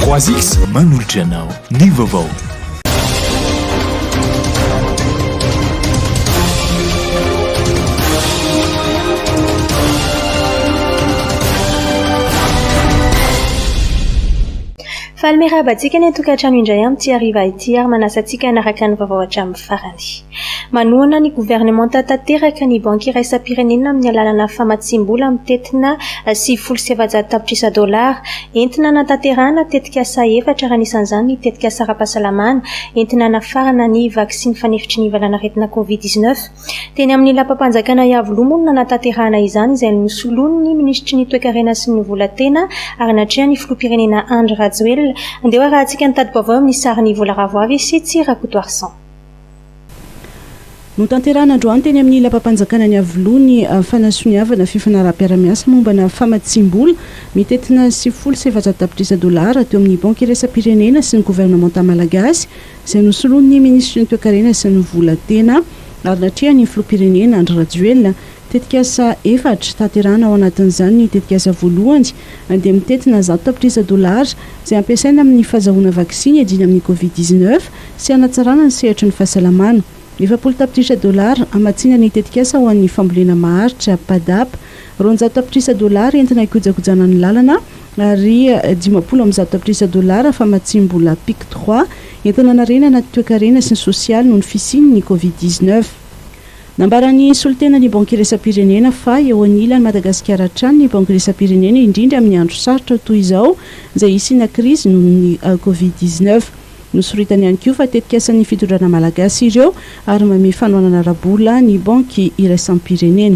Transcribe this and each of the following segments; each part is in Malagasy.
3X manolotra anao ny vaovao. Faly miarahaba antsika ny an-tokantrano indray amin'ity hariva ity ary manasa antsika hanaraka ny vaovao hatramin'ny farany. Manohana ny governemanta tanteraka ny Banky Iraisam-pirenena amin'ny alalana famatsiam-bola mitentina sivifolo sy efajato tapitrisa dolara, entina hanatanterahana tetikasa efatra ary anisan'izany ny tetikasa ara-pahasalamana entina hanafarana ny vaksiny fanefitry ny valanaretina Covid dix-neuf. Teny amin'ny Lapam-panjakana Iavoloha moa no nanatanterahana izany izay nosoloin'ny minisitry ny Toekarena sy ny Volan-tena ary natrehan'ny Filoham-pirenena Andry Rajoelina. Andeha ho arahantsika ny tati-baovao eo amin'ny sarin'i Vola Ravoavy sy Tsy Rakotoarison. Notanterahina androany teny amin'ny lapam-panjakana ny Iavoloha ny fanasoniavana fifanaraham-piarahamiasa mombana famatsiam-bola mitentina sivifolo sy efajato tapitrisa dolara teo amin'ny Banky iraisam-pirenena sy ny governemanta malagasy izay nosoloin'ny minisitry ny Toekarena sy ny vola tena ary natrehan'ny filoham-pirenena Andry Rajoelina Tetikasa efatra, tanterahina ao anatin'izany ny tetikasa voalohany, dia mitentina zato tapitrisa dolara, izay hampiasaina amin'ny fahazahoana vaksiny hiadiana amin'ny Covid dix-neuf sy hanatsarana ny sehatry ny fahasalamana. Efapolo tapitrisa dolara, hamatsiana ny tetikasa ho an'ny fambolena maharitra, PADAP, roanjato tapitrisa dolara, entina hikojakojana ny lalana, ary dimampolo amby zato tapitrisa dolara, famatsiam-bola PIC trois, entina hanarenana ny toekarena sy ny sosialy noho ny fisian'ny Covid dix-neuf. Nambaran'ny solontenan'ny Banky Iraisam-pirenena fa eo anilan'i Madagasikara hatrany ny Banky Iraisam-pirenena indrindra amin'ny andro sarotra toy izao izay hisiana krizy noho ny Covid dix neuf. Nosoritany ihany koa fa tetikasan'ny fitondrana malagasy ireo ary mamehy fanohanana ara-bola ny Banky Iraisam-pirenena.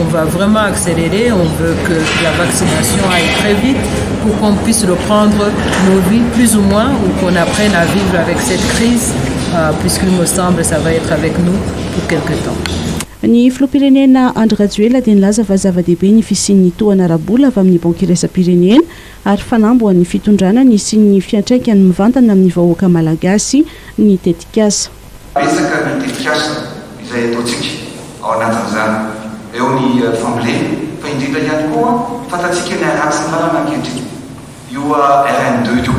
On va vraiment accélérer, on veut que la vaccination aille très vite pour qu'on puisse reprendre nos vies plus ou moins ou qu'on apprenne à vivre avec cette crise euh, puisqu'il me semble ça va être avec nous pour quelque temps. Ny filoham-pirenena Andry Rajoelina dia nilaza fa zava-dehibe ny fisian'ny tohana ara-bola avy amin'ny Banky Iraisam-pirenena ary fanamby ho an'ny fitondrana ny hisian'ny fiantraikany mivantana amin'ny vahoaka malagasy ny tetikasa. Betsaka ny tetikasa izay ataontsika ao anatin'izany, eo ny fambolena, fa indrindra ihany koa fantatsika ny haratsin'ny lalana ankehitriny, io RN deux io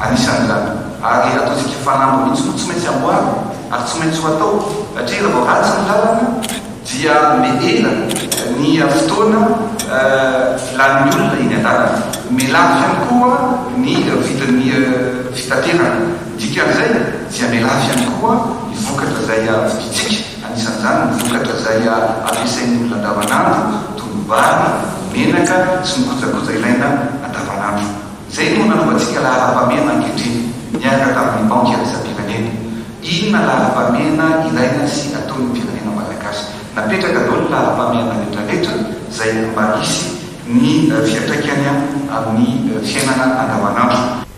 anisan'izany, ary ataontsika fanamby mihitsy moa tsy maintsy amboarina ary tsy maintsy ho atao, satria raha vao ratsy ny lalana dia mihena ny fotoana lanin'ny olona eny an-dalana, miha lafo ihany koa ny vidin'ny fitaterana. Dikan'izay, tsy hamela afy ihany koa ny vokatra izay vidintsika, anisan'izany ny vokatra izay ampiasain'ny olona andavanandro toy ny vary, ny menaka sy ny kojakoja ilaina andavanandro. Izay no nanovantsika laharam-pahamehana ankehitriny, niaraka tamin'ny Banky Iraisam-pirenena. Inona laharam-pahamehana ilaina sy ataon'ny firenena malagasy? Napetraka daholo ny laharam-pahamehana rehetrarehetra izay mba hisy ny fiantraikany amin'ny fiainana andavanandro.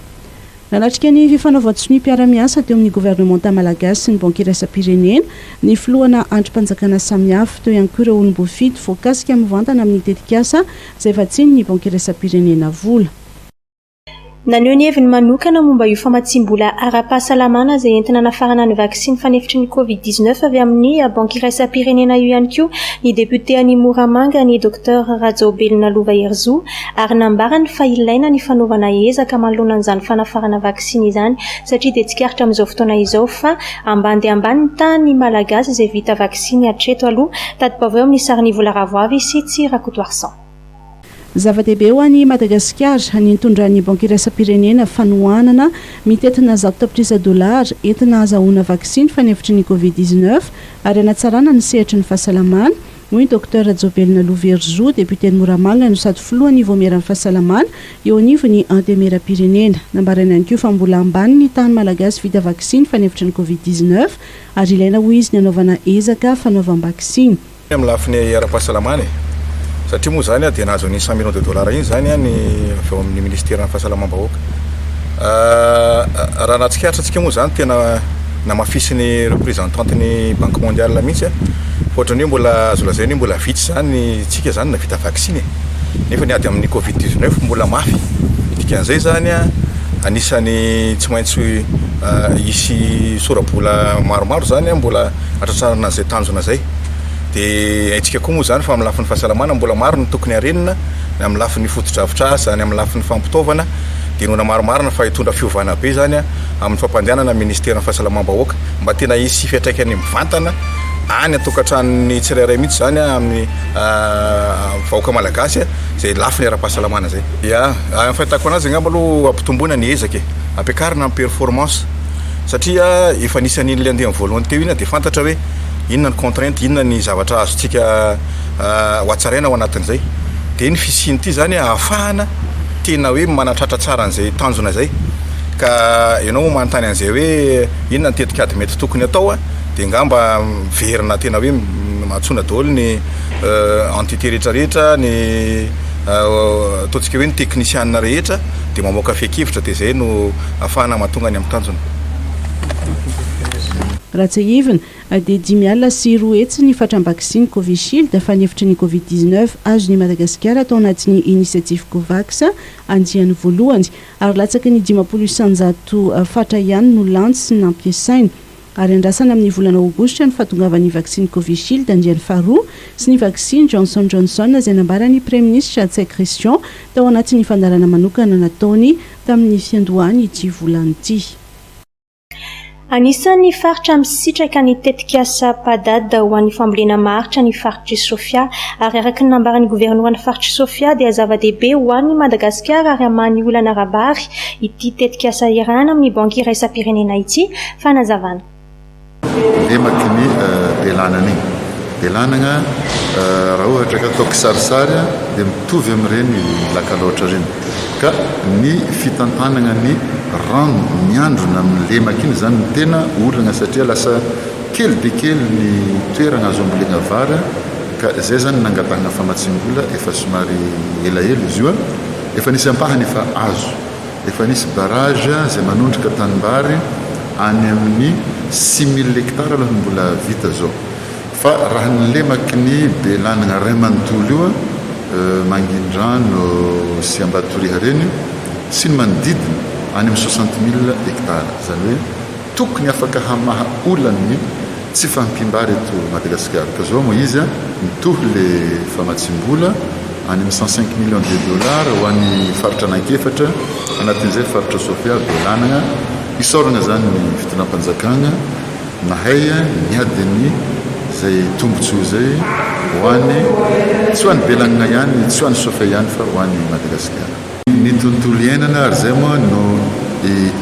Nanatrika ny fifanaovan-tsonia-piara-miasa teo amin'ny governemanta malagasy sy ny Banky iraisam-pirenena ny filohana andrim-panjakana samihafa. Teo ihany koa ireo olom-boafidy voakasika mivantana amin'ny tetikasa izay vatsian'ny Banky iraisam-pirenena vola. Naneho ny heviny manokana momba io famatsiam-bola ara-pahasalamana izay entina anafarana ny vaksiny fanefitry ny Covid dix-neuf avy amin'ny Banky iraisam-pirenena io ihany koa ny depiote any Moramanga, ny Docteur Rajaobelina Lova Herizo, ary nambarany fa ilaina ny fanaovana ezaka manoloana an'izany fanafarana vaksiny izany satria dia tsikaritra amin'izao fotoana izao fa ambany dia ambany ny tahan'ny Malagasy izay vita vaksiny hatreto aloha, tadibaoveo amin'ny sarin'Ivo Laravoavy sy Tsy Rakotoarison. Zava-dehibe ho an'i Madagasikara ny nitondran'ny Banky Iraisam-pirenena fanohanana mitentina zato tapitrisa dolara entina hazahoana vaksiny fanefitry ny Covid dix-neuf ary hanatsarana ny sehatry ny fahasalamana, hoy ny Docteur Jovelina Louverizo, depioten'i Moramanga no sady filohan'ny Vaomieran'ny fahasalamana eo anivon'ny Antemeram-pirenena. Nambarany ihany koa fa mbola ambany ny tahan'ny Malagasy vita vaksiny fanefitry ny Covid dix-neuf ary ilaina hoy izy ny hanaovana ezaka fanaovam-baksiny. Ny amin'ny lafiny ara-pahasalamana e! satria moa izany dia nahazo an'iny cent millions de dollars iny izany ny avy ao amin'ny Ministeran'ny fahasalamam-bahoaka. Raha nahatsikaritra antsika moa izany tena. namafisin'ny representant ny banque mondiale mihitsy a, fa ohatran'ny hoe mbola azo lazaina hoe mbola vitsy zany ny tsika zany navita vaksiny e, nefa ny ady amin'ny covid 19 mbola mafy, dikan'izay zany a anisany tsy maintsy hisy sorabola maromaro zany a mbola hatratrarana an'izay tanjona zay, de haintsika koa moa zany fa amin'ny lafiny fahasalamana mbola maro ny tokony harenina, ny amin'ny lafiny fotodrafitrasa, ny amin'ny lafiny fampitaovana, de noho namarimarina fa hitondra fiovana be zany a. amin'ny fampandehanana ny minisiteran'ny fahasalamam-bahoaka mba tena hisy fiantraikany mivantana any an-tokantranon'ny tsirairay mihitsy izany amin'ny vahoaka malagasy izay lafiny ara-pahasalamana izay. Ya, amin'ny fahitako anazy angamba aloha ampitomboina ny ezaka e, ampiakarina ny performance satria efa nisy an'iny le andiany voalohany teo iny dia fantatra hoe inona ny contrainte, inona ny zavatra azontsika hohatsaraina ao anatin'izay, dia ny fisian'ity izany ahafahana tena hoe manatratra tsara an'izay tanjona izay. ka ianao moa manontany an'izay hoe inona ny tetikady mety tokony atao dia ngamba miverina tena hoe antsoina daholo ny entité rehetrarehetra ny ataontsika hoe ny teknisiana rehetra dia mamoaka fehin-kevitra dia izay no afahana mahatonga ny amin'ny tanjona. Raha tsiahivina, dia dimy alina sy roa hetsy ny fatran'ny vaksiny Covishield, fanefitry ny Covid dix-neuf, azon'i Madagasikara tao anatin'ny inisiatify Covax andiany voalohany. ary latsaky ny dimampolo isanjato fatra ihany no lantsy sy nampiasaina, ary andrasana amin'ny volana aogositra ny fahatongavan'ny vaksiny Covishield andiany faharoa sy ny vaksiny Johnson Johnson izay nambaran'ny praiminisitra Ntsay Christian tao anatin'ny fandaharana manokana nataony tamin'ny fiandohan'ity volana ity. Anisan'ny faritra misitraka ny tetikasa PADAD ho an'ny fambolena maharitra ny faritr'i Sofia ary araka ny nambaran'ny governoran'ny faritr'i Sofia dia zava-dehibe ho an'i Madagasikara ary hamahan'ny olana ara-bary ity tetikasa iarahana amin'ny Banky Iraisam-pirenena ity, fanazavana. Lemaky ny belanana iny. Belanagna raha ohatra ka atao kisarisary dia mitovy amin'ireny lakalaotra ireny. Ka ny fitantanagna ny rano miandrona amin'ny lemaka iny izany no tena olagna satria lasa kely dia kely ny toeragna azo ambolegna vary a, ka izay izany no nangatahagna famatsiam-bola efa somary elaela izy io a, efa nisy ampahany efa azo, efa nisy barrage izay manondroka tanimbary any amin'ny six mille hectares aloha no mbola vita izao. Fa raha ny lemaky ny be lanigna ray manontolo io Mangindrano sy Ambatoriha reny sy ny manodidina any amin'ny soixante mille hectares izany hoe tokony afaka hamaha olany ny tsy fahampiam-bary eto Madagasikara ka zao moa izy a mitohy le famatsiam-bola any amin'ny cent cinq millions de dollars ho an'ny faritra anankefatra anatin'izay faritra Sofia be lanigna isaoragna zany ny fitondram-panjakagna Nahay ny niady ny zay tombotsoa zay ho any tsy ho any Belanina ihany, tsy ho any Sofia ihany fa ho any Madagasikara. Ny tontolo iainana ary zay moa no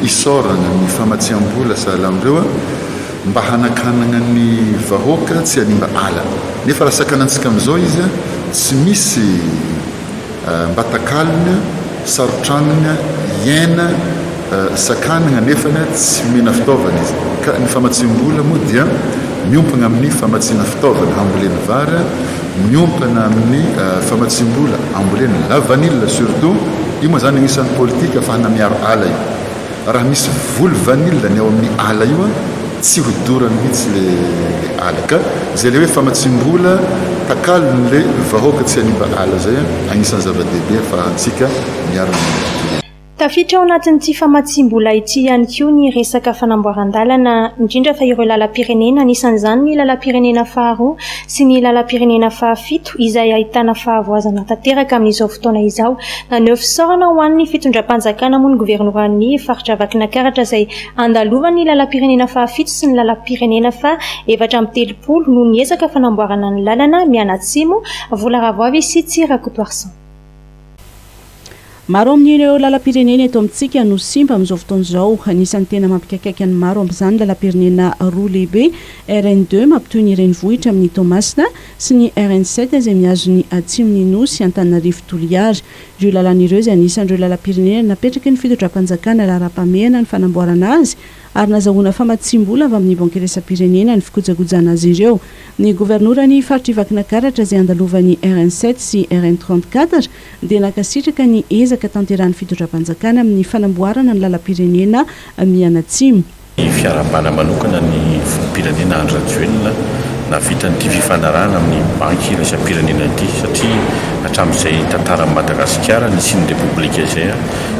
isaorana ny famatsiambola sahala amreo a, mba hanakanagna ny vahoaka tsy hanimba ala. Nefa raha sakanantsika amizao izy a, tsy misy. mba takalony, sarotranony hiaina, sakaniny anefa tsy omena fitaovana izy. Ka ny famatsiam-bola moa dia miompana amin'ny famatsiana fitaovana hambolena vary, miompana amin'ny famatsiam-bola hambolena lavanila surtout, io moa izany anisan'ny politika afahana miaro ala io. Raha misy voly vanille ny ao amin'ny ala io an, tsy ho dorany mihitsy le ala ka! Zay le hoe famatsiam-bola takalony le vahoaka tsy hanimba ala zay an, agnisan'ny zava-dehibe afahantsika miaro ny tontolo. Tafiditra ao anatin'ity famatsiam-bola ity ihany koa ny resaka fanamboaran-dalana, indrindra fa ireo lalam-pirenena, anisan'izany ny lalam-pirenena faharoa sy ny lalam-pirenena fahafito izay ahitana fahavoazana tanteraka amin'izao fotoana izao. Naneho fisaorana ho an'ny fitondram-panjakana moa ny governoran'ny faritra Vakinankaratra izay andalovan'ny lalam-pirenena fahafito sy ny lalam-pirenena faha efatra amby telopolo noho ny ezaka fanamboarana ny lalana mianatsimo Volaravoavy sy Tsirakotoarison. Maro amin'ireo lalam-pirenena eto amintsika no simba amin'izao fotoana izao. Anisan'ny tena mampikaikaika ny maro amin'izany lalam-pirenena roa lehibe, RN deux mampitohy ny renivohitra amin'ny Toamasina sy ny RN sept izay mihazo ny atsimon'ny Nosy, Antananarivo Toliara. Ireo lalana ireo izay anisan'ireo lalam-pirenena napetraky ny fitondram-panjakana raharaham-pahamehana ny fanamboarana azy ary nazahoana famatsiam-bola avy amin'ny Banky Iraisam-pirenena ny fikojakojana azy ireo. Ny governoran'ny faritr'i Vakinakaratra izay andalovan'ny RN sept sy RN trente quatre dia nankasitraka ny ezaka tanterahan'ny fitondram-panjakana amin'ny fanamboarana ny lalam-pirenena mianatsimo. Ny fiaraham-bana manokana ny filoham-pirenena Andry Rajoelina nahavita an'ity fifanarahana amin'ny Banky Iraisam-pirenena ity satria hatramin'izay tantaran'i Madagasikara nisian'ny Repoblika izay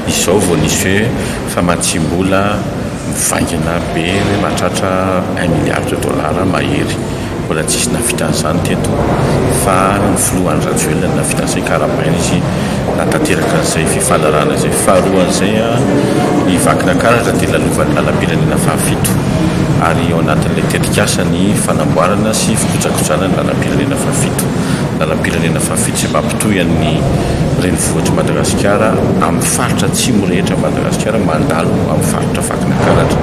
izao vao nisy hoe Famatsiam-bola mivaingana be hoe mahatratra un milliard de dollars mahery. Mbola tsisy nahavita an'izany teto fa ny filoha Andry Rajoelina no nahavita an'izay ka arahabaina izy nahatanteraka an'izay fifanarahana izay. Faharoan'izay, i Vakinankaratra dia lalovan'ny lalam-pirenena fahafito ary ao anatin'ilay tetikasa ny fanamboarana sy fikojakojana ny lalam-pirenena fahafito. Lalam-pirenena fahafito izay mampitohy an'ny renivohitr'i Madagasikara amin'ny. Faritra Atsimo rehetra amin'i Madagasikara mandalo amin'ny faritra Vakinankaratra.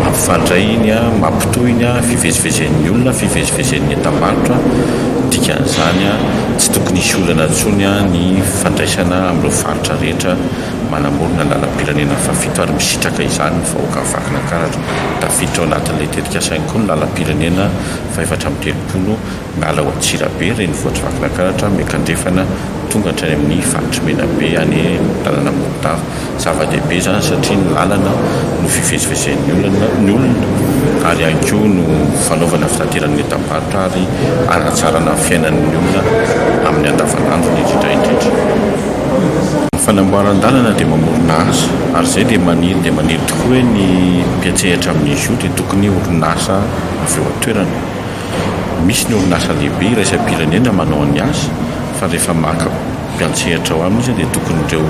Mampifandray iny, mampitohy iny fivezivezen'ny olona, fivezivezen'ny entam-barotra. Dikan'izany, tsy tokony hisy olana intsony ny fandraisana amin'ireo faritra rehetra manamorona ny lalam-pirenena fahafito ary misitraka izany ny vahoakan'i Vakinankaratra. Tafiditra ao anatin'ilay tetikasa ihany koa ny lalam-pirenena fahefatra amby telopolo Miala ao Antsirabe, renivohitr'i Vakinankaratra, miankandrefana tonga hatrany amin'ny faritry Menabe any amin'ny tanana Morondava. Zava-dehibe izany satria ny lalana no fivezivezen'ny olona ary ihany koa no fanaovana fitateran'ny entam-barotra ary hanatsarana fiainan'ny olona amin'ny andavanandrony indrindra indrindra. Ny fanamboaran-dalana dia mamorona asa ary izay dia maniry dia maniry tokoa hoe ny mpiantsehatra amin'izy io dia tokony orinasa avy eo an-toerana. Misy ny orinasa lehibe iraisam-pirenena manao ny azy fa rehefa maka mpiantsehatra ao aminy izy dia tokony ireo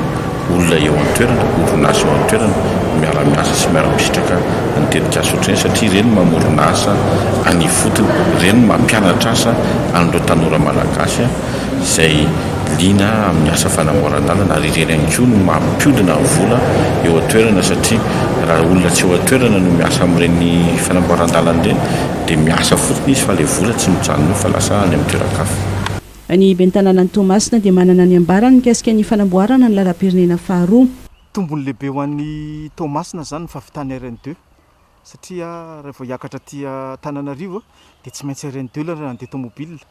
olona eo an-toerana, orinasa eo an-toerana no miara-miasa sy miara-misitraka ny tetikasa ohatr'ireny satria ireny no mamorona asa any ifotony, ireny no mampianatra asa an'ireo tanora malagasy izay liana amin'ny asa fanamboaran-dalana ary ireny ihany koa no mampiodina ny vola eo an-toerana satria raha olona tsy eo an-toerana no miasa amin'ireny fanamboaran-dalana ireny Dia miasa fotsiny izy fa ilay vola tsy mijanona eo fa lasa any amin'ny toeran-kafa. Ny ben'ny tanànan'i Toamasina dia manana ny ambarany mikasika ny fanamboarana ny lalam-pirenena faharoa. Tombony lehibe ho an'i Toamasina izany ny fahavitan'ny RN deux satria raha vao hiakatra aty Antananarivo dia tsy maintsy RN deux ilay raha handeha tomobilina.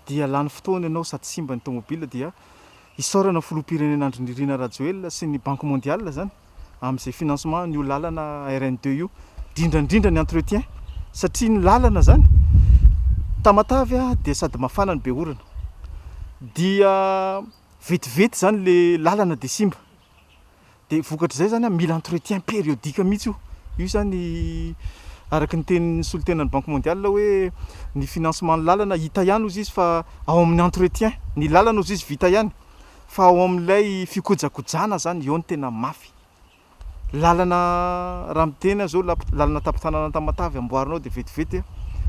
dia lany fotoana ianao sady simba ny tomobile dia isaorana filoham-pirenena Andry Nirina Rajoelina sy ny banque mondiale zany amin'izay financement io lalana RN deux io indrindra indrindra ny entretien satria ny lalana zany Tamatave a dia sady mafana no be orana dia vetivety zany le lalana dia simba dia vokatr'izay zany mila entretien périodique mihitsy io io zany araka ny tenin'ny solontenan'ny banque mondiale hoe ny financement ny lalana hita ihany ozy izy fa ao amin'ny entretien ny lalana ozy izy vita ihany fa ao amin'ilay fikojakojana zany eo ny tena mafy lalana raha miteny aho zao lalana tapitranana antamatavy amboarinao dia vetivety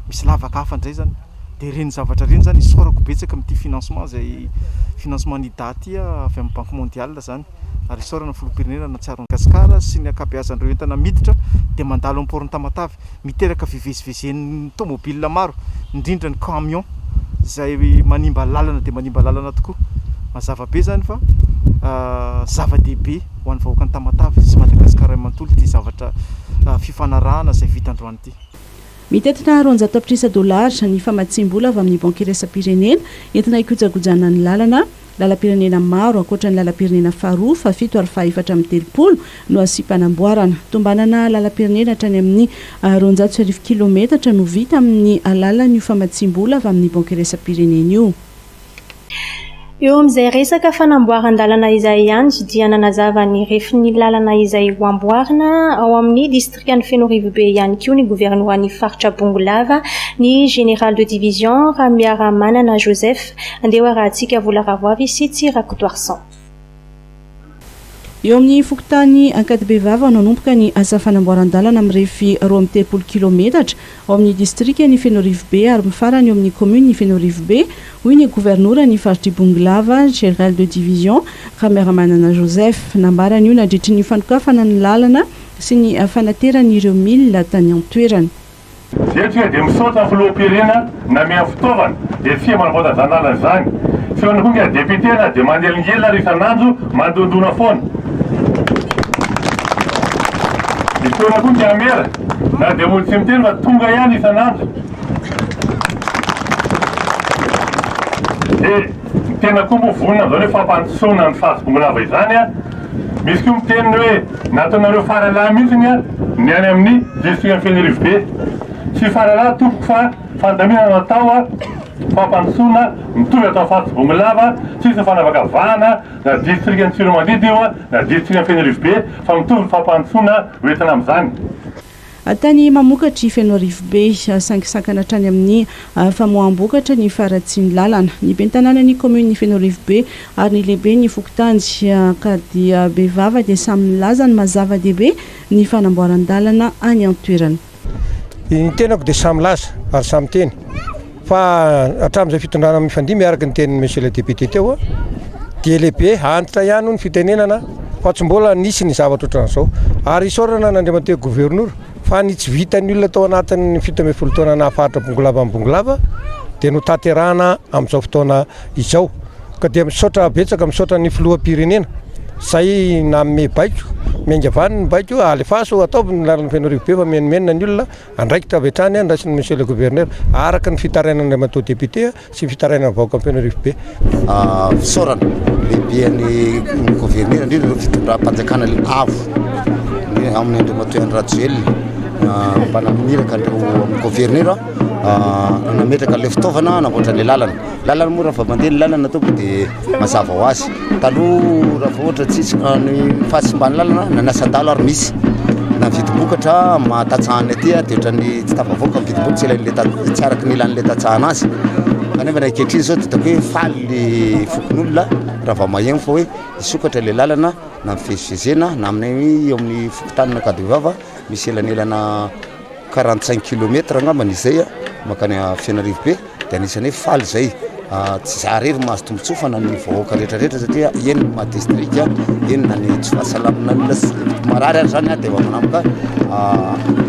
misy lavaka hafa indray zany Dia ireny zavatra ireny izany isaorako betsaka amin'ity financement izay financement ny Ida ity avy amin'ny Banque Mondiale izany ary isaorana ny Filoham-pirenena nahatsiaro an'i Gasikara sy ny ankabeazan'ireo entana miditra dia mandalo amin'ny Port-n'ny Tamatave miteraka fivezivezen'ny tomobile maro indrindra ny camion izay manimba lalana dia manimba lalana tokoa. Mazava be izany fa zava-dehibe ho an'ny vahoakan'ny Tamatave sy Madagasikara manontolo ity zavatra fifanarahana izay vita androany ity. Mitetika roanjato tapitrisa dolara ny famatsiam-bola avy amin'ny Banky iraisam-pirenena entina hikojakojana ny lalana. Lalam-pirenena maro, ankoatra ny lalam-pirenena faharoa, fahafito ary fahefatra amby telopolo no hasiam-panamboarana. Tombanana lalam-pirenena hatrany amin'ny roanjato sy arivo kilaometatra no vita amin'ny alalan'io famatsiam-bola avy amin'ny Banky iraisam-pirenena io. Eo amin'izay resaka fanamboaran-dalana izay ihany dia nanazava ny refin'ny lalana izay ho amboarina ao amin'ny distrikan'i Fenorivobe ihany koa ny governoran'ny faritra Bongolava, ny Général de Division Ramiaramanana Joseph, Andeoarahatsika Volaravoavy sy Tsirakotoarison. Eo amin'ny fokontany Ankadibevava no hanomboka ny asa fanamboaran-dalana mirefy roa amby telopolo kilaometatra ao amin'ny distrikan'i Fenorivobe ary mifarana eo amin'ny kaominin'i Fenorivobe, hoy ny governoran'ny faritr'Ibongolava, Général de Division, Ramiramanana Joseph. Nambarany io nandritry ny fanokafana ny lalana sy ny fanaterany ireo milina tany an-toerana. Ztria dia misaotra filoham-pirena nameha fitaovana dia tsia manamboatra zany lalana zany feony koa nga député na dia manelingelina ary isan'andro mandondona foana ny feona koa nga mera na dia mody tsy miteny fa tonga ihany isan'andro dia ny tena koa moa vonona amzao ny fampandrosoana ny fahazobongo lava izany Misy koa miteny ny hoe nataonareo faralahy mihitsy ny ny any amin'ny distrikan'i Fenerivobe. Tsy faralahy tompoko fa fandaminana natao fampandrosoana mitovy atao Faritsy Bongolava, tsisy ny fanavakavahana na distrikan'i Tsiromandidy io na distrikan'i Fenerivobe fa mitovy ny fampandrosoana ho entina amin'izany. Tany mamokatra i Fenoarifobe, sangisakana hatrany amin'ny famoaham-bokatra ny faharatsian'ny lalana. Ny ben'ny tanànan'ny kaominin'i Fenoarivobe ary ny lehiben'ny fokontany ka dia bevava dia samy milaza ny maha zava-dehibe ny fanamboaran-dalana any an-toerana. Ny tenako dia samy milaza ary samy miteny. Fa hatramin'izay fitondrana mifandimby araka ny tenin'i Monsieur le député teo dia lehibe antitra ihany hoy ny fitenenana fa tsy mbola nisy ny zavatra ohatran'izao. Ary isaorana an'Andriamatoa Governora fa ny tsy vitan'ny olona tao anatin'ny fito ambin'ny folo taona nahafaritra Bongolava an'i Bongolava dia notanterahana amin'izao fotoana izao. Ka dia misaotra betsaka, misaotra ny Filoham-pirenena izay nanome baiko, miainga avy any ny baiko, alefaso, ataovy ny lalan'i Fenoarivobe fa mimenomenona ny olona. Andraikitra avy hatrany an raisin'ny Monsieur le Gouverneur, araka ny fitarainan'Andriamatoa Député sy ny fitarainan'ny vahoakan'i Fenorifobe. Fisaorana lehibe an'i Gouverneur, indrindra ireo fitondram-panjakana avo, indrindra angamba ny Andriamatoa Henri Rajoelina mba naniraka an'ireo amin'ny Gouverneur nametraka ilay fitaovana hanamboatra ilay lalana. Lalana moa raha vao mandeha ny lalana tompoko dia Mazava ho azy, taloha raha vao ohatra tsy hisy ny fahasimban'ny lalana na ny asan-dalo ary misy na ny vidim-bokatra amin'ny maha tantsaha anay aty dia ohatran'ny tsy tafavoaka ny vidim-boka, tsy ilain'ilay ta- tsy araka ny ilan'ilay tantsaha anazy. Kanefa ny ankehitriny izao dia hitako hoe faly ny fokonolona raha vao maheno fa hoe hisokatra ilay lalana na ny fivezivezena na aminay eo amin'ny fokontany Ankadibevava misy elanelana quarante cinq kilomètre angamba ny izay makany Fianarivobe dia anisany hoe faly izay tsy za irery no mahazo tombotsoa fa na ny vahoaka rehetra rehetra satria eny ny maha district eny na ny tsy fahasalamana ny olona marary ary izany dia efa manomboka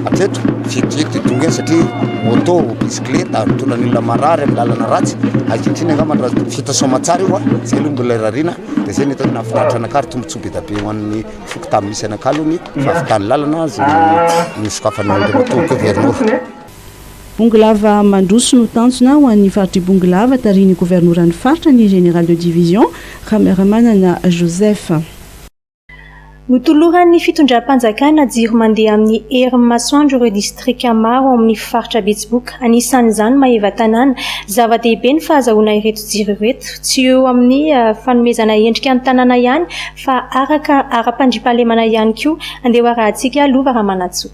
hatreto vety vety io dongany satria moto bicyclette mitondra ny olona marary amin'ny lalana ratsy ankehitriny angamba raha vita soamatsara io izay aloha mbola irariana dia izay no hitako nahafinaritra anakah ary tombotsoa be dia be ho an'ny Foko tamin'ny misy an'Ankalony, fahavitan'ny lalana azy no nosokafana ao Andriamatoa Governora. Bongolava mandroso no tanjona ho an'ny faritr'i Bongolava, tarihin'ny Governoran'ny faritra, ny Général de Division, Ramiramanana Joseph. Notoloran'ny fitondram-panjakana jiro mandeha amin'ny herin'ny masoandro ireo distrika maro ao amin'ny faritra Betsiboka, anisan'izany Maevatanàna. Zava-dehibe ny fahazahoana ireto jiro ireto, tsy eo amin'ny fanomezana endrika ny tanàna ihany Fa araka ara-pandriampahalemana ihany koa. Andeha ho arahintsika lova Ramanantsoa.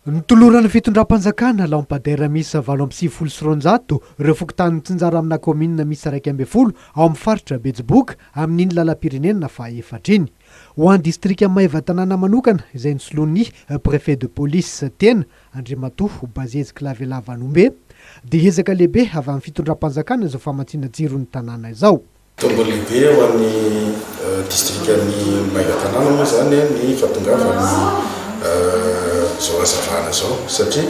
Notoloran'ny fitondram-panjakana lampadaires miisa valo amby sivifolo sy roanjato ireo fokontany mitsinjara amina kaominina miisa iraika ambin'ny folo ao amin'ny faritra Betsiboka amin'iny lalam-pirenena fahefatra iny. Ho an'ny distrika Maevatanàna manokana izay nosoloin'ny Préfet de police tena, Andriamatoa Bazezy Kilavialavan'Ombe, dia ezaka lehibe avy amin'ny fitondram-panjakana izao famatsiana jiro ny tanàna izao. Tombony lehibe ho an'ny distrikan'i Magatanana moa izany ny fahatongavan'ny izao hazavana izao satria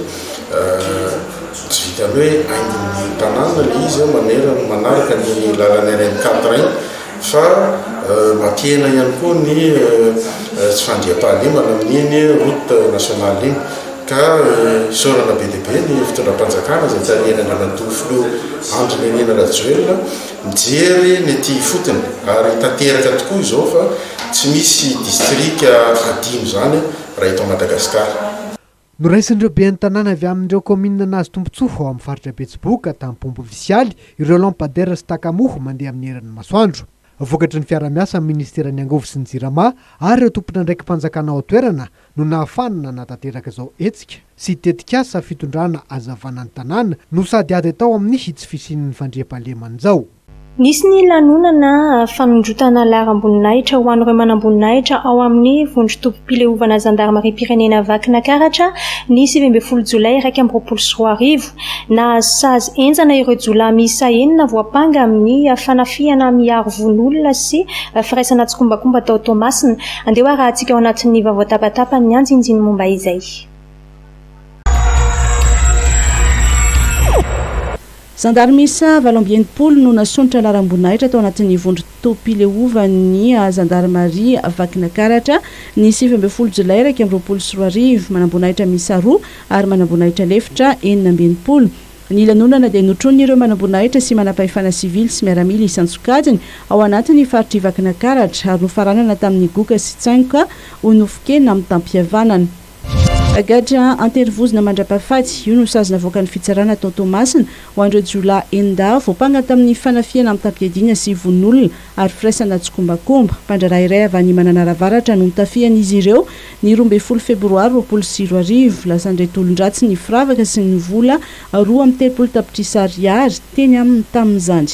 tsy vitan'ny hoe haingon'ny tanàna ilay izy manerana manaraka ny lalan'ny RN 4 iny fa mampihena ihany koa ny tsy fandriampahalemana amin'iny route nationale iny ka isaorana be dia be ny fitondram-panjakana izay tarihan'ny Andriamatoa Filoha Andry Nirina Rajoelina Mijery ny aty ifotony ary tanteraka tokoa izao fa tsy misy distrika hadino izany raha eto Madagasikara. Noraisin'ireo ben'ny tanàna avy amin'ireo kaominina nahazo tombontsoa ao amin'ny faritra Betsiboka, Tampompy Visialy, ireo lampadaires sy takamoa mandeha amin'ny herin'ny masoandro. Vokatry ny fiaraha-miasa amin'ny ministeran'ny angovo sy ny jirama ary ireo tompon'andraiki-panjakana ao an-toerana no nahafahana nanatanteraka izao hetsika sy tetikasa fitondrana hazavana ny tanàna no sady ady tao amin'ny hitsy fisian'ny fandriampahalemana izao. Nisy ny lanonana fanondrotana laharam-boninahitra ho an'ireo manamboninahitra ao amin'ny vondron-tobim-pileovana zandarimariam-pirenena Vakinankaratra ny sivy ambin'ny folo jolay iraika amby roapolo sy roa arivo. Nahazo sazy henjana ireo jiolahy miisa enina voampanga amin'ny fanafihana miaro vono olona sy firaisana tsikombakomba tao Toamasina. Andeha hoarahantsika ao anatin'ny vaovao tapatapan'ny Anjinjiny ny momba izay. Zandary miisa valo amby enimpolo no nasondrotra laharam-boninahitra tao anatin'ny vondron-topim-pileovan'ny zandarimaria Vakinakaratra, ny sivy ambin'ny folo jolay iraika amby roapolo sy roa arivo. Manam-boninahitra miisa roa ary manamboninahitra lefitra enina amby enimpolo. Ny lanonana dia notronin'ireo manamboninahitra sy manampahefana sivily sy miaramila isan-tsokajiny ao anatin'ny faritr'i Vakinakaratra ary nofaranana tamin'ny goka sy tsaingoka ho nofon-kena mitam-pihavanana. Gadra an-terivozona mandra-pahafaty, io no sazy navoakan'ny fitsarana tao Toamasina ho an'ireo jiolahy enin-dahy voampanga tamin'ny fanafihana mitam-piadiana sy vononolona ary firaisana tsikombakomba. Mpandraharaha iray avy any Mananara Avaratra no notafihan'izy ireo Ny roa ambin'ny folo febroary roapolo sy roa arivo, lasan'ireto olon-dratsy ny firavaka sy ny vola roa amby telopolo tapitrisa ariary teny aminy tamin'izany.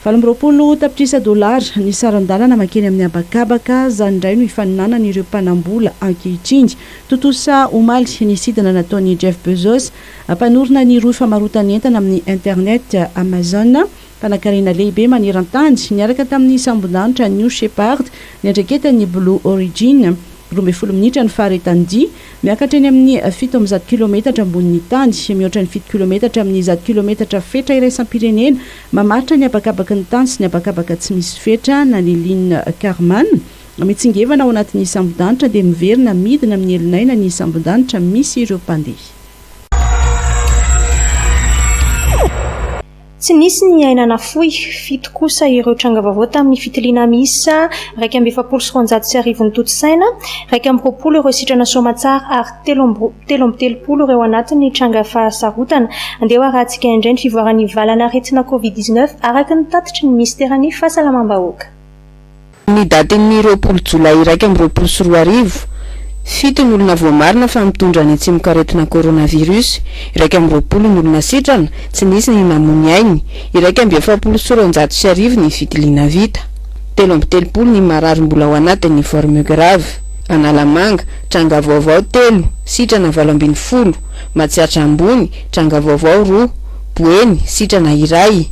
Valo amby roapolo tapitrisa dolara ny saran-dalana mankeny amin'ny habakabaka, izany indray no hifaninanan'ireo mpanam-bola ankehitriny. Tontosa omaly ny sidina nataon'i Jeff Bezos, mpanorina ny rohy famarotan'entana amin'ny internet Amazon, Mpanankarena lehibe maneran-tany niaraka tamin'ny sambondanitra New Shepard niandraiketan'ny Blue Origin. Roa ambin'ny folo minitra ny faharetan-dia, miakatra eny amin'ny fito amby zato kilometatra ambonin'ny tany, mihoatra ny fito kilometatra amin'ny zato kilometatra fetra iraisam-pirenena mamaritra ny habakabaky ny tany sy ny habakabaka tsy misy fetra na ny ligne Kármán. Mitsingevana ao anatin'ny sambondanitra dia miverina midina amin'ny elon'aina ny sambondanitra misy ireo mpandeha. Tsy nisy ny aina nafoy. Fito kosa ireo tranga vaovao tamin'ny fitiliana miisa iraika amby efapolo sy roanjato sy arivo notontosaina, iraika amby roapolo ireo sitrana soamatsara ary telo amby telo amby telopolo ireo anatin'ny tranga fahasarotana. Andeha ho arahantsika indray ny fivoaran'ny valan'aretina Covid dix-neuf, araka ny tatitry ny minisiteran'ny Fahasalamam-bahoaka. Ny datin'ny roapolo jolay iraika amby roapolo sy roa arivo, fito ny olona voamarina fa mitondra ny tsimokaretina coronavirus, iraika amby roapolo ny olona sitrana, tsy nisy ny namoy ny ainy, iraika amby efapolo sy roanjato sy arivo ny fitiliana vita, telo amby telopolo ny marary mbola ao anatin'ny forme grave, Analamanga, tranga vaovao telo, sitrana valo ambin'ny folo, Matsiatra Ambony, tranga vaovao roa, Boeny, sitrana iray,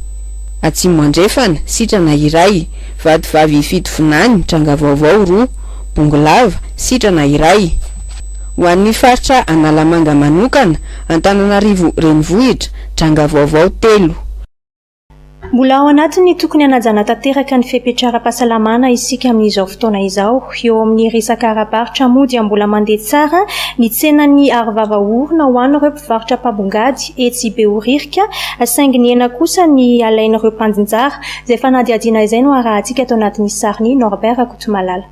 Atsimo Andrefana, sitrana iray. Vatovavy fito vinany, tranga vaovao roa, bongolava, sitrana iray. Ho an'ny faritra Analamanga manokana, Antananarivo Renivohitra, tranga vaovao telo. Mbola ao anatin'ny tokony hanajana tanteraka ny fepetra ara-pahasalamana isika amin'izao fotoana izao. Eo amin'ny resaka ara-barotra moa dia mbola mandeha tsara ny tsenan'ny arovava orona ho an'ireo varotra mpabongady etsy Behoririka, saingy ny hena kosa ny alain'ireo mpandinjara. Izay fanadihadiana izay no harahantsika tao anatin'ny sarin'i Norbert Rakotomalala.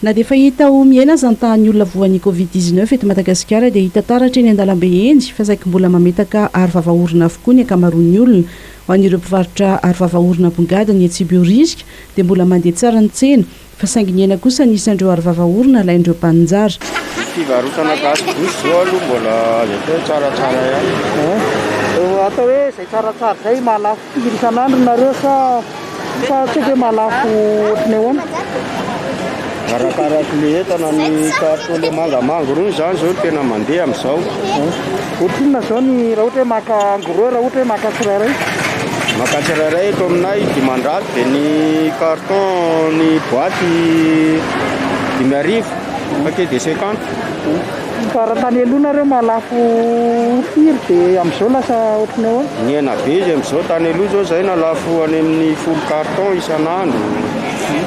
Na dia efa hita ho mihena aza ny tahan'ny olona voan'ny Covid dix neuf eto Madagasikara dia hita taratra eny an-dalambe eny fa saiky mbola mametaka aro vava orona avokoa ny ankamaroan'ny olona. Ho an'ireo mpivarotra aro vava orona abongadiny etsy Behoririka dia mbola mandeha tsara ny tsena fa saingy nihena kosa ny isan'ireo arovava orona alain'ireo mpaninjara. Ny fivarotana gasy bouche zao aloha mbola azo atao hoe tsaratsara ihany. Atao hoe izay tsaratsara izay mahalafo firy isan'andro nareo sa sa tsy haiko hoe mahalafo ohatran'ny ahoana? Arakaraky le entana ny carton le mangamanga rony zany zao no tena mandeha amizao. Ohatrinona zao ny raha ohatra hoe maka en gros raha ohatra hoe maka tsirairay? Maka tsirairay eto aminay dimanjato dia ny carton ny boaty dimy arivo paquet de cinquante. Fa raha tany aloha nareo mahalafo firy dia amin'izao lasa ohatry ny ahoana? Nihena be izy amin'izao, tany aloha zao zay nalafo any amin'ny folo carton isan'andro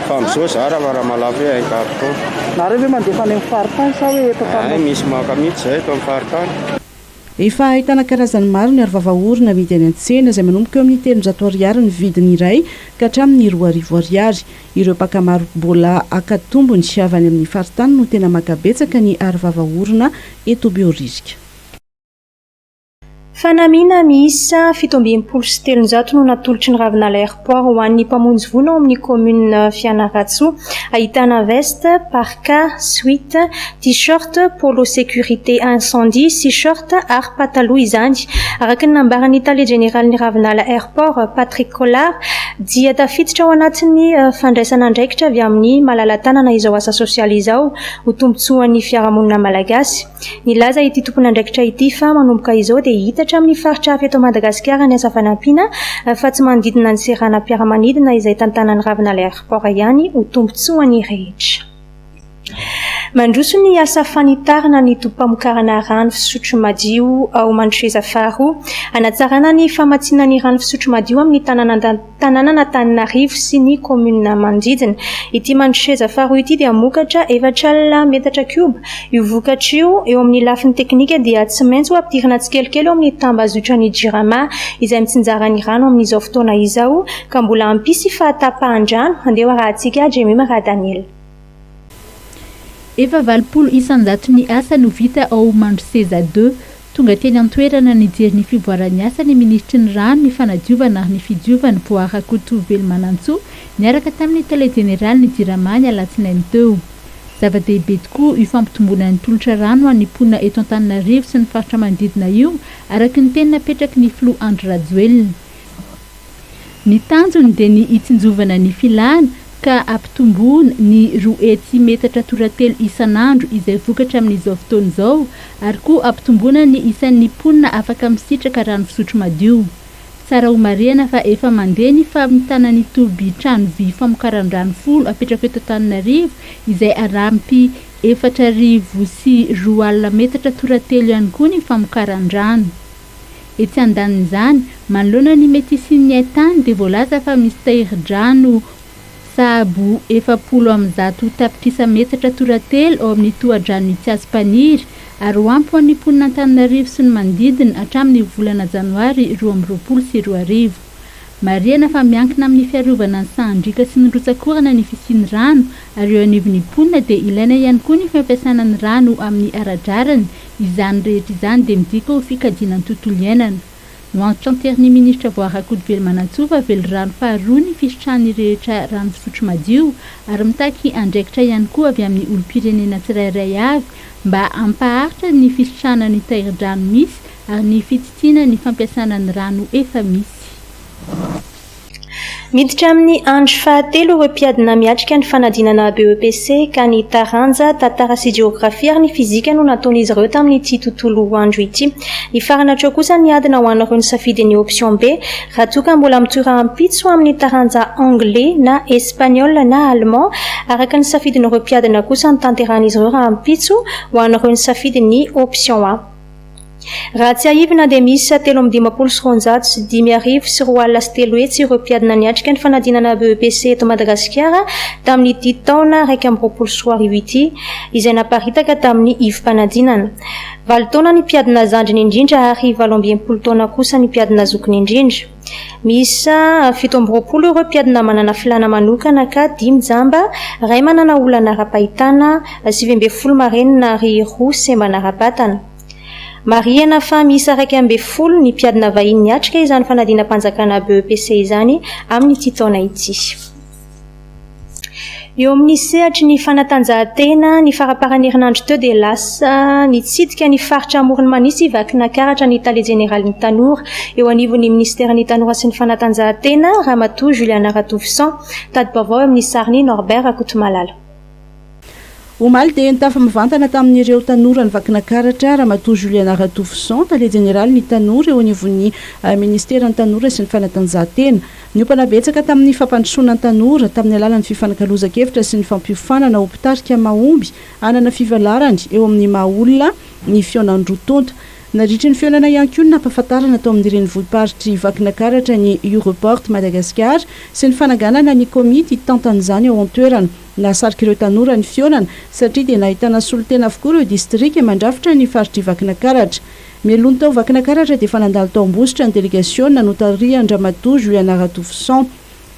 fa amin'izao zara fa raha mahalafo hoe un carton. Nareo ve mandefa any amin'ny faritany sa hoe eto Antananarivo? Hay misy maka mihitsy izay eto amin'ny faritany. Efa ahitana karazany maro ny arovava orona amidy any an-tsena, izay manomboka eo amin'ny telonjato ariary ny vidiny iray ka hatramin'ny roa arivo ariary. Ireo mpaka maro mbola haka tombony avy any amin'ny faritany no tena maka betsaka ny arovava orona eto Behoririka. Fanamiana miisa fito amby enimpolo sy telonjato no natolotry ny Ravinala Airport ho an'ny mpamonjy voina ao amin'ny kaominina Fianarantsoa. Ahitana veste, parka, suite, tee-shirt, polo sécurité incendie sy short ary pataloha izany. Araka ny nambaran'ny tale jeneralin'ny Ravinala Airport, Patrick Collard, dia tafiditra ao anatin'ny fandraisana andraikitra avy amin'ny malala-tanana izao asa sosialy izao ho tombontsoan'ny fiarahamonina malagasy. Nilaza ity tompon'andraikitra ity fa manomboka izao dia hita hatramin'ny faritra hafa eto Madagasikara ny asa fanampiana fa tsy manodidina ny seranam-piaramanidina izay tantanan'ny ravinala airport ihany ho tombontsoan'ny rehetra mandroso ny asa fanitarana ny tobim-pamokarana rano fisotro madio ao Mandroseza faharoa hanatsarana ny famatsiana ny rano fisotro madio amin'ny tanàna tanànan'Antananarivo sy ny kaominina manodidina. Ity mandroseza faharoa ity dia mokatra efatra alina metatra kioba. Io vokatra io, eo amin'ny lafiny teknika dia tsy maintsy ho ampidirina tsikelikely ao amin'ny tambazotran'ny Jirama izay mitsinjara ny rano amin'izao fotoana izao ka mbola hampisy fahatapahan-drano, handeha ho arahintsika Jemima Radaniel. Efa valopolo isan-jaton'ny asa no vita ao Mandroseza deux. Tonga teny an-toerana nijery ny fivoaran'ny asa ny minisitry ny Rano, ny Fanadiovana ary ny Fidiovana, Boa Rakoto Velomanantsoa, niaraka tamin'ny tale jeneralin'ny Jirama ny alatsinainy teo. Zava-dehibe tokoa io fampitomboana ny tolotra rano ho an'ny mponina eto Antananarivo sy ny faritra manodidina io, araka ny teny napetraky ny filoha Andry Rajoelina. Ny tanjony dia ny hitsinjovana ny filana ka hampitomboana ny roa hetsy metatra toratelo isan'andro izay vokatra amin'izao fotoana izao ary koa hampitomboana ny isan'ny mponina afaka misitraka rano fisotro madio. Tsara homarihana fa efa mandeha ny famitana ny tobi-trano vy famokaran-drano folo apetrako eto Antananarivo izay arampy efatra arivo sy roa alina metatra toratelo ihany koa ny famokaran-drano. Etsy andanin'izany, manoloana ny mety hisian'ny hain-tany dia voalaza fa misy tahirin-drano sahabo efapolo amby zato tapitrisa metatra toratelo ao amin'ny tohadrano Tsiasympaniry ary ho ampy ho an'ny mponin'Antananarivo sy ny manodidina hatramin'ny volana janoary roa amby roapolo sy roa arivo. Marihana fa miankina amin'ny fiarovana ny sahan-driaka sy ny rotsak'orana ny fisian'ny rano ary eo anivon'ny mponina dia ilaina ihany koa ny fampiasana ny rano amin'ny ara-drariny Izany rehetra izany dia midika ho fikajiana ny tontolo iainana. Ho antso an-tserin'ny minisitra vao Rakotovelomanasoa fa velirano faharoa ny fisitrahan'ny rehetra rano fisotro madio ary mitaky andraikitra ihany koa avy amin'ny olom-pirenena tsirairay avy mba hampaharitra ny fisitrahana ny tairidrano misy ary ny fitsitsina ny fampiasana ny rano efa misy. Miditra amin'ny andro fahatelo ireo mpiadina miatrika ny fanadinana BEPC ka ny taranja Tantara sy Jeografia ary ny Fizika no nataon'izy ireo tamin'ity tontolo andro ity. Hifarana hatreo kosa ny adina ho an'ireo nisafidy ny option B raha toa ka mbola mitohy rahampitso amin'ny taranja Anglais na Espagnol na Allemand araka ny safidin'ireo mpiadina kosa no tanterahin'izy ireo rahampitso ho an'ireo nisafidy ny option A. Raha tsiahivina dia miisa telo amby dimampolo sy roanjato sy dimy arivo sy roa alina sy telo hetsy ireo mpiadina niatrika ny fanadinana BEPC eto Madagasikara tamin'ity taona iraika amby roapolo sy roa arivo ity izay naparitaka tamin'ny ivom-panadinana. Valo taona ny mpiadina zandriny indrindra ary valo amby enimpolo taona kosa ny mpiadina zokiny indrindra. Miisa fito amby roapolo ireo mpiadina manana filàna manokana ka dimy jamba, iray manana olana ara-pahitana, sivy ambin'ny folo marenina ary roa sembana ara-batana. Marihina fa miisa iraika ambin'ny folo ny mpiadina vahiny niatrika izany fanadinam-panjakana BEPC izany amin'ity taona ity. Eo amin'ny sehatry ny fanatanjahantena, ny faramparan'ny herinandro teo dia lasa nitsidika ny faritra Amoron'i Manisa i Vakinakaratra ny tale jeneralin'ny Tanora eo anivon'ny minisiteran'ny Tanora sy ny fanatanjahantena, Ramatoa Juliana Ratouvisson. Tadi-baovao eo amin'ny sariny, Norbert Rakotomalala. Omaly dia nitafa mivantana tamin'ireo tanora ny Vakinakaratra Ramatoa Juliana Ratofison, Tale Jeneralin'ny Tanora eo anivon'ny Ministeran'ny Tanora sy ny Fanatanjahantena. Niompana betsaka tamin'ny fampandrosoana ny tanora, tamin'ny alalan'ny fifanakalozan-kevitra sy ny fampiofanana ho mpitarika mahomby hanana fivalarany eo amin'ny maha-olona ny fihaonan'ny roa tonta. Nadritry ny fihaonana ihany koa ny nampahafantarana tao amin'ny renivohi-paritr'i Vakinakaratra ny Europort Madagascar sy ny fananganana ny komity hitantana izany ao an-toerana. Nahasarika ireo tanora ny fihaonana satria dia nahitana solontena avokoa ireo distrika mandrafitra ny faritr'i Vakinakaratra. Mialoha ny tao Vakinakaratra dia efa nandalo tao Ambositra ny delegasiona notarihan-dRamatoa Juliana Ratofison.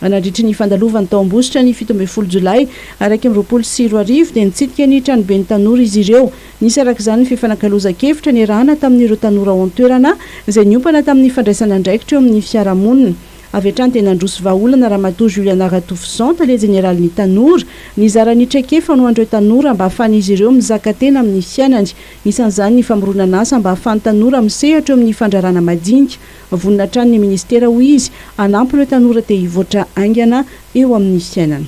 Nandritry ny fandalovan'ny taom-bositra ny fito ambin'ny folo jolay iraika amby roapolo sy roa arivo dia nitsidika ny tranoben'ny tanora izy ireo. Nisy araka izany ny fifanakalozan-kevitra niarahana tamin'ireo tanora ao an-toerana izay niompana tamin'ny fandraisana andraikitra eo amin'ny fiarahamonina. Avy hatrany dia nandroso vahaolana Ramatoa Juliana Ratofoson, Tale Jeneralin'ny Tanora, nizara ny traikefa ho an'ireo tanora mba hahafahan'izy ireo mizaka tena amin'ny fiainany. Isan'izany ny famoronan'asa mba hahafahan'ny tanora misehatra eo amin'ny fandrarana madinika. Vonona hatrany ny minisitera, hoy izy, hanampy ireo tanora te hivoatra haingana eo amin'ny fiainana.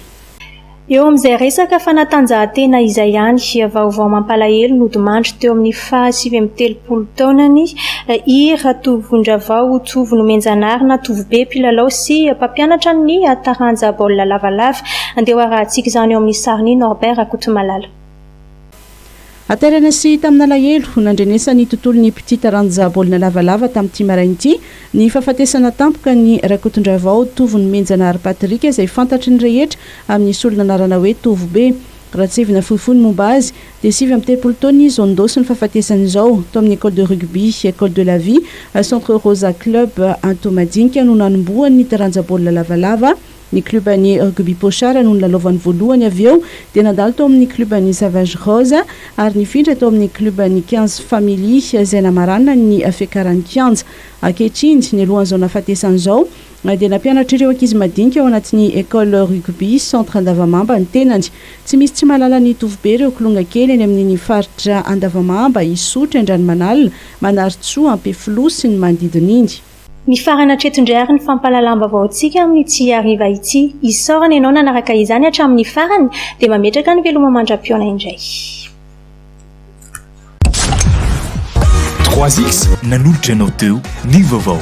Eo amin'izay resaka fanatanjahantena izay ihany, vaovao mampalahelo nodimandry teo amin'ny faha sivy amby telopolo taonany i Ratovondravao Jovo Nomenjanary na Tovobe, mpilalao sy mpampianatra ny taranja baolina lavalava. Andeha hoarahantsika izany eo amin'ny sarin'i Norbert Rakotomalala. Haterana sy hita amin'alahelo, nandrenesan'ny tontolon'ny mpitia taranja baolina lavalava tamin'ity maraina ity ny fahafatesana tampoka an'i Rakotondravao Tovo Nomenjanahary Patrick izay fantatry ny rehetra amin'ny solon'anarana hoe Tovobe. Raha tsivona fohifohy ny momba azy dia sivy amby telopolo taona izy vao nindôsy ny fahafatesana izao tao amin'ny Ecole de Rugby Ecole de la Vie Centre Rosa Club Antohomadinika no nanombohan'ny taranja baolina lavalava Ny kluban'ny Rugby Pochard no nilalaovany voalohany, avy eo dia nandalo tao amin'ny kluban'ny Savage Rosa ary nifindra tao amin'ny kluban'ny Quinze Family izay namaranany ny fiakaran'ny kianja. Ankehitriny, nialohan'izao nahafatesany izao, dia nampianatra ireo ankizy madinika ao anatin'ny Ecole Rugby Centre Andavamamba ny tenany. Tsy misy tsy mahalala ny Tovobe ireo kilonga kely eny amin'iny faritra Andavamamba, Isotry, Andranomanalina, Manarintsoa, Ampefiloha sy ny manodidina iny. Mifarana hatreto indray àry ny fampahalalam-baovaontsika amin'ny Tsy Hariva ity. Isaorana ianao nanaraka izany hatramin'ny farany, dia mametraka ny veloma mandra-pihaona indray. Trois X nanolotra anao teo ny vaovao.